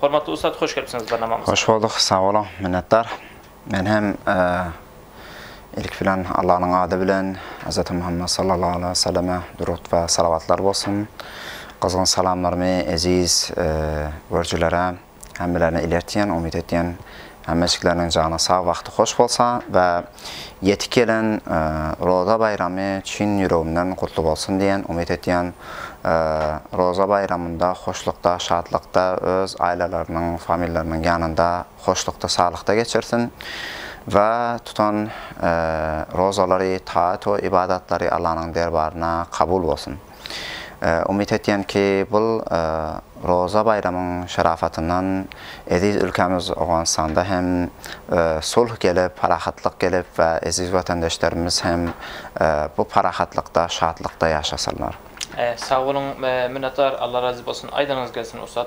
Hormatly ussat hoş gelipsiňiz barnamamyza. Hoş bolduk, sag boluň, minnetdar. Men hem ilki bilen Allanyň ady bilen Hazreti Muhammed sallallahu aleyhi ve selleme durut ve salavatlar bolsun. Gyzgyn salamlarymy eziz görüjilere hemmelerine ilertýän, umyt etýän Hemmejikleriň jany sag bagty hoş bolsa we ýetip gelen Roza baýramy çyn ýüregimden gutly bolsun diýen umyt etýän Roza baýramynda hoşlukda şatlykda öz aýlalarynyň familiýalarynyň ýanynda hoşlukda saglykda geçirsin we tutan Rozalary taat we ybadatlary Allanyň derbaryna kabul bolsun. Umyt etýän ki, bul Roza baýramyň şarapatyndan eziz ülkämiz Owganystanda hem sulh gelip, parahatlyk gelip we eziz watandeşlerimiz hem bu parahatlykda, şatlykda ýaşasynlar. Sag boluň, minnetdar, Alla razy bolsun, aýdanyňyz gelsin ussat.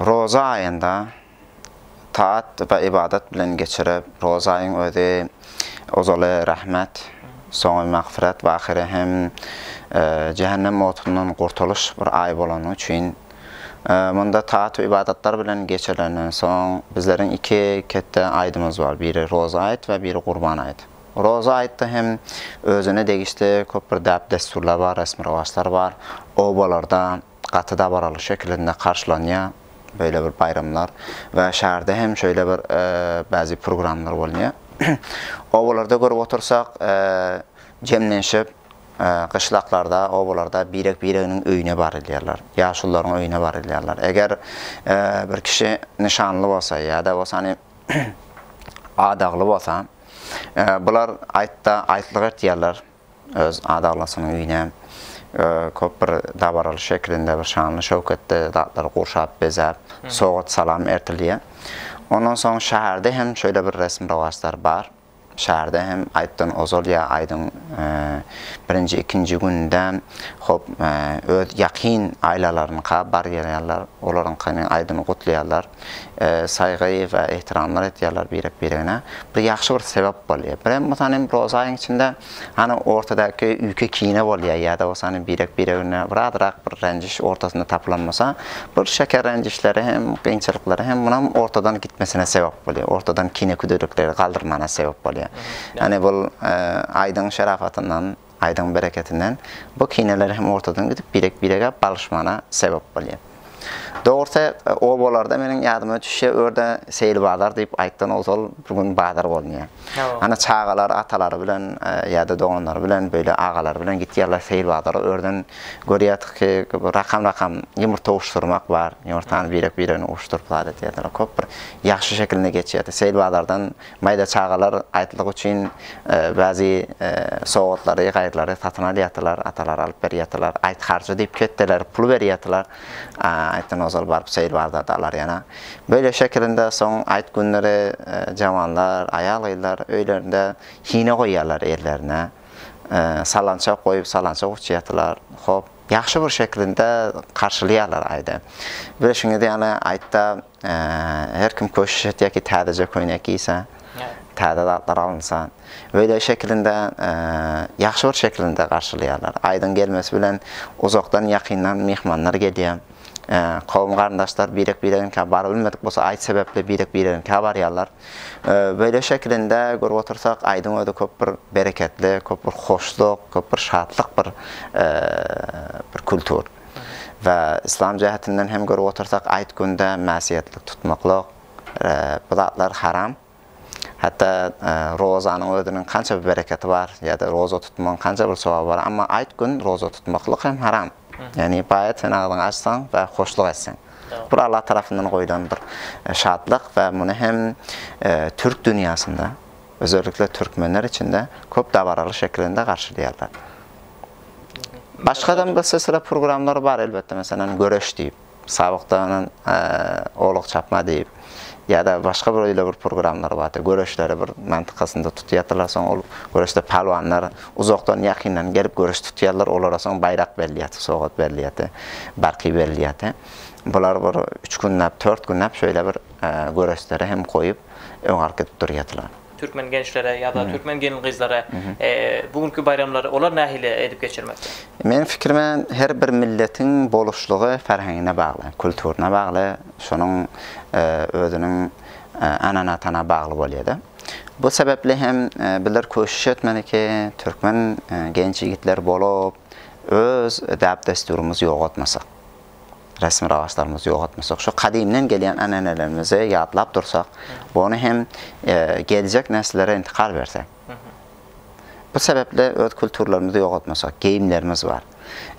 Roza aýynda taat we ybadat bilen geçirip, roza aýyň özi ozaly rahmet, soňy magfyrat we ahyry hem jähennem otundan gurtulyş bir aý bolany üçin, munda taat we ybadatlar bilen geçirilenden soň, bizleriň iki ketde aýdymyz bar, biri roza aýt we biri gurban aýt. Roza aýtda hem özüne degişli köp bir däp-dessurlar bar, resmi-rowaçlar bar. Obalarda. Gaty dabaraly şekilinde garşylanýar beýle bir baýramlar we şäherde hem şeýle bir bäzi programlar bolunýar. Obalarda görüp otursak, jemlenşip, gyşlaklarda, obalarda birek-bireginiň öýüne barylýarlar, ýaşulularyň öýüne barylýarlar. Eger bir kişi nyşanly bolsa ýa-da bolsany adagly bolsa, bular aýtda aýtlyk etýärler. Öz adaglasynyň öýüne köp bir dabaraly şekilinde bir şanly-şöwketli zatlary gurşap, bezäp, sowgat-salam ertilýär. Ondan soň şäherde hem şeýle bir resm-rowaçlar bar. Şäherde hem aýtdan ozal ýa aýdyň birinji, ikinji gününde hop, öz ýakyn aýlalarynyňka bar gelýärler, olaryňkyny aýdyny gutlaýarlar. saýga we ehtiramlar etýärler birek-biregine. Bu ýagşy bir sebäp bolýar. Birem bolsa hem roza aýyň içinde hany ortadaky üýke-kine bolýar ýa-da bolsa hany birek-biregine birazrak bir ränjiş ortasynda tapylan bolsa, bir şeker ränjişleri hem, kynçylyklary hem munam ortadan gitmesine sebäp bolýar, ortadan kine-küdürlikleri galdyrmagyna sebäp bolýar. Ýagny bul aýdyň şerafatyndan Aýdyň bereketinden bu kineler hem ortadan gidip birek birege balyşmana sebep bolýa. Dogrusy obalarda meniň ýadyma düşýä örde seýil bazar diýip aýtdan ozal bir gün bazar bolunýa. Ana çagalar atalary bilen ýada doganlary bilen beýle agalary bilen gitýärler seýil bazara örden görýädik ki rakam rakam ýumurta uşdurmak bar ýumurtany birek biregine uşduryp zat edýärler köp bir ýagşy şekilinde geçýärdi seýil bazardan Maýda çagalar aýtlyk üçin bäzi sowgatlary, gaýrylary satyn alýardylar, atalar alyp berýärdiler. Aýt harjy diýip ketdeler, pul berýärdiler. Aýtdan ozal baryp seýil bazarda alar ýana. Beýle şekilinde soň aýt günleri jawanlar, aýal-gyzlar öýlerinde hine goýýarlar ellerine. Salançak goýup, salançak uçýardylar. Hop, ýagşy bir şekilinde garşylaýarlar aýdy. Bilşiňiz ýaly, aýtda Her kim köşüş etýär ki, täzeje köýnek giýse, täze zatlar alynsa. Beýle şekilinde, ýagşy bir şekilinde garşylaýarlar. Aýdyň gelmesi bilen uzakdan, ýakyndan myhmanlar gelýär. Kowum-garyndaşlar birek-biregiňkä barybilmedik bolsa, aýt sebäpli birek-biregiňkä barýarlar. Beýle şekilinde görüp otursak, aýdyň özi köp bir bereketli, köp bir hoşluk, köp bir şatlyk bir bir kultur. we yslam jähetinden hem görüp otursak aýt günde mäsiýetlik tutmaklyk bu zatlar haram hatda rozanyň özüniň kança bir bereketi bar ýa-da roza tutmagyň kança bir sogaby bar amma aýt gün roza tutmaklyk hem haram ýagny baýat sen agzyňy açsaň we hoşluk etseň bu Allah tarapyndan goýlan bir şatlyk we muny hem türk dünýäsinde özellikle türkmenler içinde köp dabaraly şekilinde garşylaýarlar. Başga adam gysy sıra programlar bar elbette mesela göreş diýip, sabakda anan olak çapma diýip ya da başga bir öyle bir programlar bar. Göreşleri bir mantykasynda tutýardylar soň ol göreşde palwanlar uzakdan ýakyndan gelip göreş tutýarlar olara soň baýrak berilýär, sogat berilýär, barky berilýär. Bular bir 3 günläp, 4 günläp şöyle bir göreşleri hem goýup öňe alyp gidip durýardylar. Türkmen gençlere ýa-da türkmen gelin-gyzlara bu günki baýramlary olar nähili edip geçirmekde? Meniň pikirime, her bir milletiň boluşlygy ferhengine bagly, kulturyna bagly, şonuň özüniň ananatana bagly bolýar-da. Bu sebäpli hem bizler köşüş etmeli ki, türkmen genç ýigitler bolup, öz däp-dessurymyzy ýogaltmasak. resmi-rowaçlarymyzy ýogaltmasak, şu gadymdan gelýän änänelerimizi ýatlap dursak, ony hem geljek nesillere intikal bersek. Bu sebäpli öz kulturlarymyzy ýogaltmasak, geýimlerimiz bar.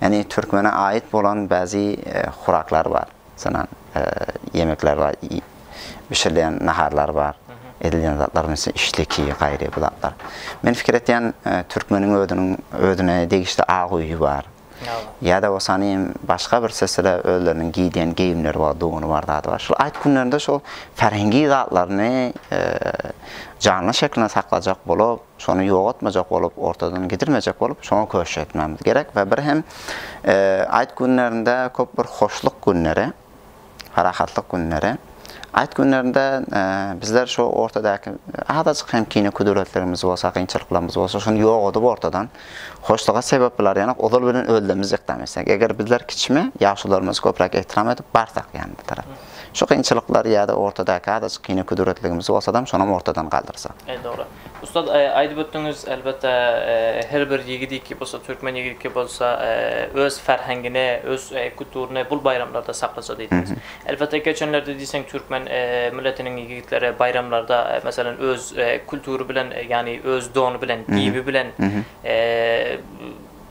Ýagny türkmene aýyt bolan bäzi huraklar bar. Masalan, ýemekler bar, bişirilýän naharlar bar, edilýän zatlar, meselem, işleki, gaýry bu zatlar. Men pikir etýän, türkmeniň özüniň özüne degişli ak öýi bar. Ýa-da bolsa nim başga bir sesde özleriniň giýdýän geýimleri bar, dogany bar, zady bar. Şol aýt günlerinde şol färhengi zatlaryny janly şeklinde saklajak bolup, şony ýogatmajak bolup, ortadan gidirmejek bolup, şoňa köşk etmemiz gerek we bir hem aýt günlerinde köp bir hoşluk günleri. Parahatlyk günleri. Aýt günlerinde bizler şu ortadaky azajyk hem kine kudratlarymyz bolsa, kynçylyklarymyz bolsa, şony ýogadyp ortadan hoşluga sebep bolar ýanak ozal bilen özlemimizi ykdam etsek. Eger bizler kiçimi ýaşularymyzy köpräk ehtiram edip barsak ýany bir tarap. Şu kynçylyklar ýa-da ortadaky azajyk kine kudratligimiz bolsadam şonam ortadan galdyrsak. Eý dogry. Ussat aýdyp ötdüňiz elbetde her bir ýigidiki bolsa türkmen ýigidiki bolsa öz ferhengini öz kuturyny bul baýramlarda saklaja diýdiňiz. Elbetde geçenlerde diýseň türkmen milletiniň ýigitleri baýramlarda meselem öz kultury bilen ýagny öz dony bilen giýibi bilen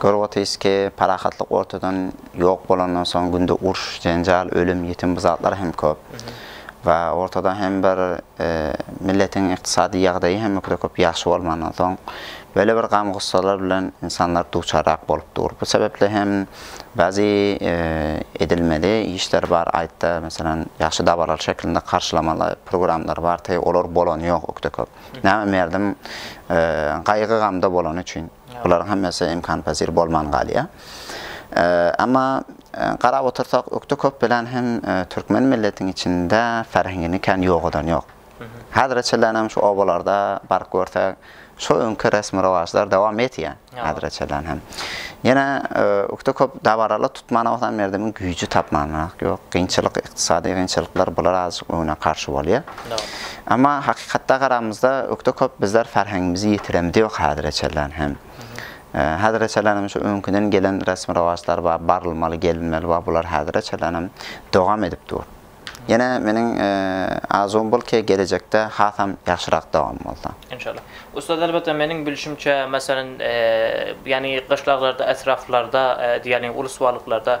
Kör otuz iki parahatlyk ortadan ýok bolandan soň günde uruş, jenjal, ölüm, ýetim bu zatlar hem köp. We ortada hem bir milletiň ykdysady ýagdaýy hem o kadar köp ýagşy bolmandan soň böyle bir gam gussalar bilen insanlar duçarrak bolup dur. Bu sebepli hem bazi edilmeli işler bar aýtda meselem ýagşy dabaraly şeklinde garşylamaly programlar bar te olar bolany ýok o kadar köp. Näme merdim gaýgy gamda bolany üçin. Bularyň hemmesi ymkanypezir bolman galýar. Emma garap otursak, ökde köp bilen hem türkmen milletiň içinde ferhengini kän ýogadan ýok. Häzire çenlenem şu obalarda baryp görsek, şu öňki resmi-rowaçlar dowam etýär, häzire çenlen hem. Ýene ökde köp dabaralary tutmana bolsa merdemiň güýji tapmanrak ýok. Kynçylyk, ykdysady kynçylyklar bular azajyk öňüne garşy bolýar. Emma hakykatda garamyzda ökde köp bizler farhangimizi yitiremdiok hazire çenlen hem. Hazire çenlen hem şu öňkiden gelen resmi rowaçlar bar, barylmaly, gelinmeli bar, bular hazire çenlen hem dowam edip dur. Yene meniň arzuwym bul ki gelejekde hasam yahşyrak dowam bolsa. Enşallah. Ussat elbetde meniň bilşimçe meselen yani gyşlaglarda etraflarda yani ulus baglyklarda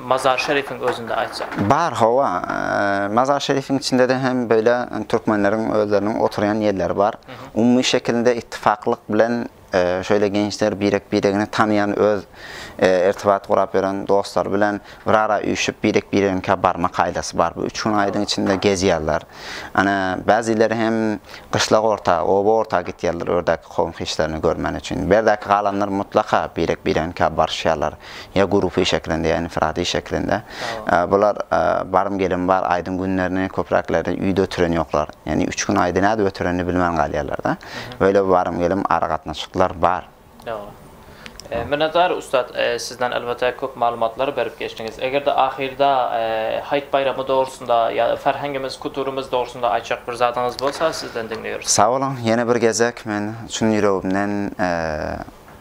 Mazar Şerifiň özünde aýtsak. Bar hawa, Mazar Şerifiň içinde-de hem beýle türkmenleriň özleriniň oturýan ýerleri bar. Umumy şekilinde ittifaklyk bilen şeýle gençler birek-biregini tanaýan öz irtibat gurap ýören dostlary bilen bir ara üýşüp birek-bireginikä barma kaýdasy bar. Bu üç gün aýyň içinde gezýärler. Ana, bäzileri hem gyşlak orta, oba orta gitýärler ördäki kowum-hiçlerini görmän üçin. Berdäki galanlar mutlaka birek-bireginikä barşýarlar. ýa gurupiý şeklinde, ýa infiradiý şeklinde. Bular barym gelim bar, aýdyň günlerini köpräkleri üýde ötüren ýoklar. Ýagny üç gün aýdy nädip ötürenini bilmän galýarlar-da. Beýle barym gelim aragatnaşyklar bar. Minnetdar ussat, sizden elbetde köp maglumatlar berip geçdiňiz. Eger-de ahyrda Haýt baýramy dogrusynda ýa ferhengimiz, kuturymyz dogrusynda aýtjak bir zadyňyz bolsa sizden diňleýeris. Sag boluň, ýene bir gezek men çyn ýüregimden